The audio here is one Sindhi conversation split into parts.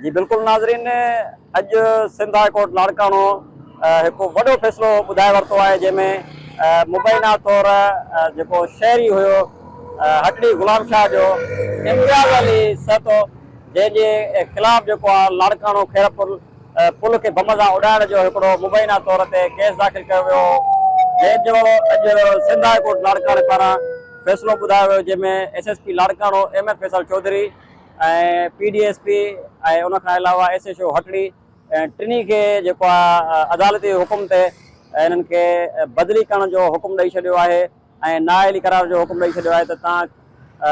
جي بلڪل ناظرين اڄ سنڌ هاء ڪورٽ لاڙڪاڻو هڪ وڏو فيصلو ٻڌائي ورتو آهي جنهن ۾ مبينا طور جيڪو شهري هيو هٽڙي غلام شاهه جو امتياز علي سهتو جنهن جي خلاف جيڪو آهي لاڙڪاڻو خيرپور پل کي بم سان اڏائڻ جو هڪڙو مبينا طور تي ڪيس داخل ڪيو ويو جنهن جو اڄ سنڌ هاء ڪورٽ لاڙڪاڻي پاران فيصلو ٻڌايو ويو جنهن ۾ S S P Larkana M F Faisal Chaudhry ۽ P D S P ۽ ان کان علاوه ايس ايڇ او هٽڙي ٽنهي کي جيڪو آهي عدالتي حڪم تي انهن کي بدلي ڪرڻ جو حڪم ڏئي ڇڏيو آهي ۽ نااهلي قرار جو حڪم ڏئي ڇڏيو آهي ته تان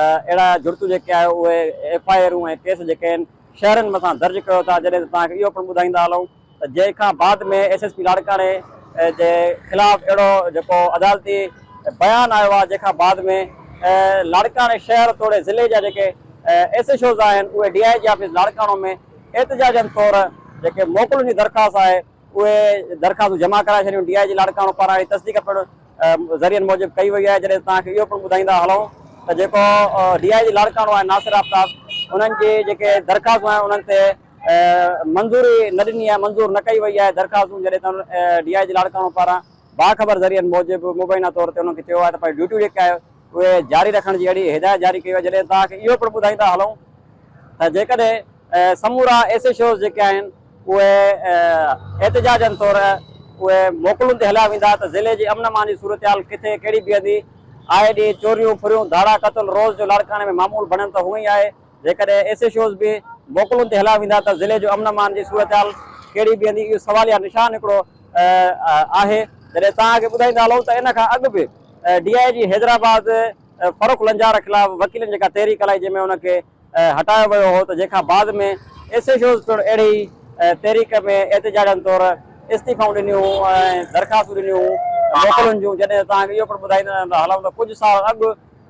اهڙا جڙتون جيڪي آهي اهي ايف آء آرون ۽ ڪيس جيڪي آهن شهرين مٿان درج ڪيو ٿا جڏهن ته توهان کي اهو پڻ ٻڌائيندا هلون جنهن کان بعد ۾ ايس ايس پي لاڙڪاڻي جي خلاف اهڙو جيڪو عدالتي بيان آيو آهي جنهن کان بعد ۾ لاڙڪاڻي شهر توڙي ضلعي جا جيڪي ايس ايڇ اوز آهن اهي D I G office Larkana ۾ احتجاجن طور جيڪي موڪلن جي درخواست آهي اهي درخواستون جمع ڪرائي ڇڏيون ڊي آء جي لاڙڪاڻو پاران اهڙي تصديق پڻ ذريعن موجب ڪئي وئي آهي جڏهن ته توهان کي اهو پڻ ٻڌائيندا هلون ته جيڪو ڊي آء جي لاڙڪاڻو آهي ناصر آفتاب انهن جي جيڪي درخواستون آهن انهن تي منظوري نه ڏني آهي، منظور نه ڪئي وئي آهي درخواستون جڏهن ته ڊي آء جي لاڙڪاڻو پاران باخبر ذريعن موجب مبينا طور تي انهن کي چيو آهي ته پنهنجي ڊيوٽيون جيڪي آهي اهي جاري رکڻ جي اهڙي هدايت جاري ڪئي وئي جڏهن توهان کي اهو پڻ ٻڌائيندا هلون ته جيڪڏهن سمورا ايس ايڇ اوز جيڪي آهن اهي احتجاجن طور اهي موڪلون تي هليا ويندا ته ضلعي جي امن امان جي صورتحال ڪٿي ڪهڙي بيهندي، آئي ڏينهن چوريون ڦريون ڌاڙا قتل روز جو لاڙڪاڻي ۾ معمول بڻيل ته هونئن ئي آهي جيڪڏهن ايس ايڇ اوز به موڪلن تي هلايا ويندا ته ضلعي جو امن امان جي صورتحال ڪهڙي بيهندي اهو سواليه نشان هڪڙو آهي جڏهن توهان کي ٻڌائيندا هلئون ته ان کان اڳ به ڊي آء جي حيدرآباد فرخ لنجار خلاف وڪيلن جيڪا تحريڪ هلائي جنهن ۾ ان کي هٽايو ويو هو ته جنهن کان بعد ۾ ايس ايڇ اوز پڻ اهڙي ئي تحريڪ ۾ احتجاجن طور استعيفائون ڏنيون ۽ درخواستون ڏنيون هون موڪلن جون جڏهن توهان کي اهو پڻ ٻڌائيندا هلئون ته ڪجهه سال اڳ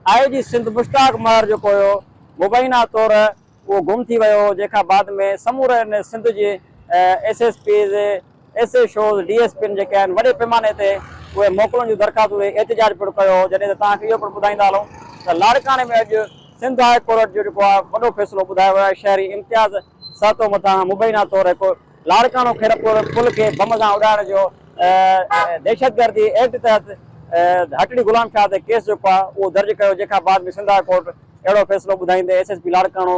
آء جي سنڌ مشتاق مهر جو ڪوهيو مبينا طور اهو گم ٿي ويو هو جنهن کان بعد ۾ سموري ان سنڌ جي S S Ps S H Os D S پين جيڪي آهن وڏي پيماني تي اهي موڪلن جون درخواستون ڏئي احتجاج پڻ ڪيو هو جڏهن ته توهان کي اهو پڻ ٻڌائيندا هلون ته لاڙڪاڻي ۾ اڄ سنڌ هاء ڪورٽ جو جيڪو آهي وڏو فيصلو ٻڌايو ويو آهي شهري امتياز سهتو مٿان مبينا طور هڪ لاڙڪاڻو خيرپور پل کي بم سان اڏائڻ جو دهشتگردي ايڪٽ تحت هٽڙي غلام شاهه تي ڪيس جيڪو آهي اهو درج ڪيو جنهن کان بعد ۾ سنڌ هاء ڪورٽ اهڙو فيصلو ٻڌائيندي S S P Larkana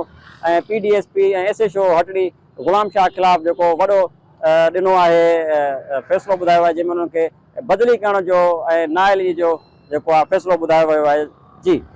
۽ P D S P ۽ S H O Hatri Ghulam Shah خلاف جيڪو وڏو ڏنو آهي فيصلو ٻڌايو آهي جنهن ۾ انهن کي بدلي ڪرڻ جو ۽ نااهلي جو جيڪو آهي فيصلو ٻڌايو ويو آهي جي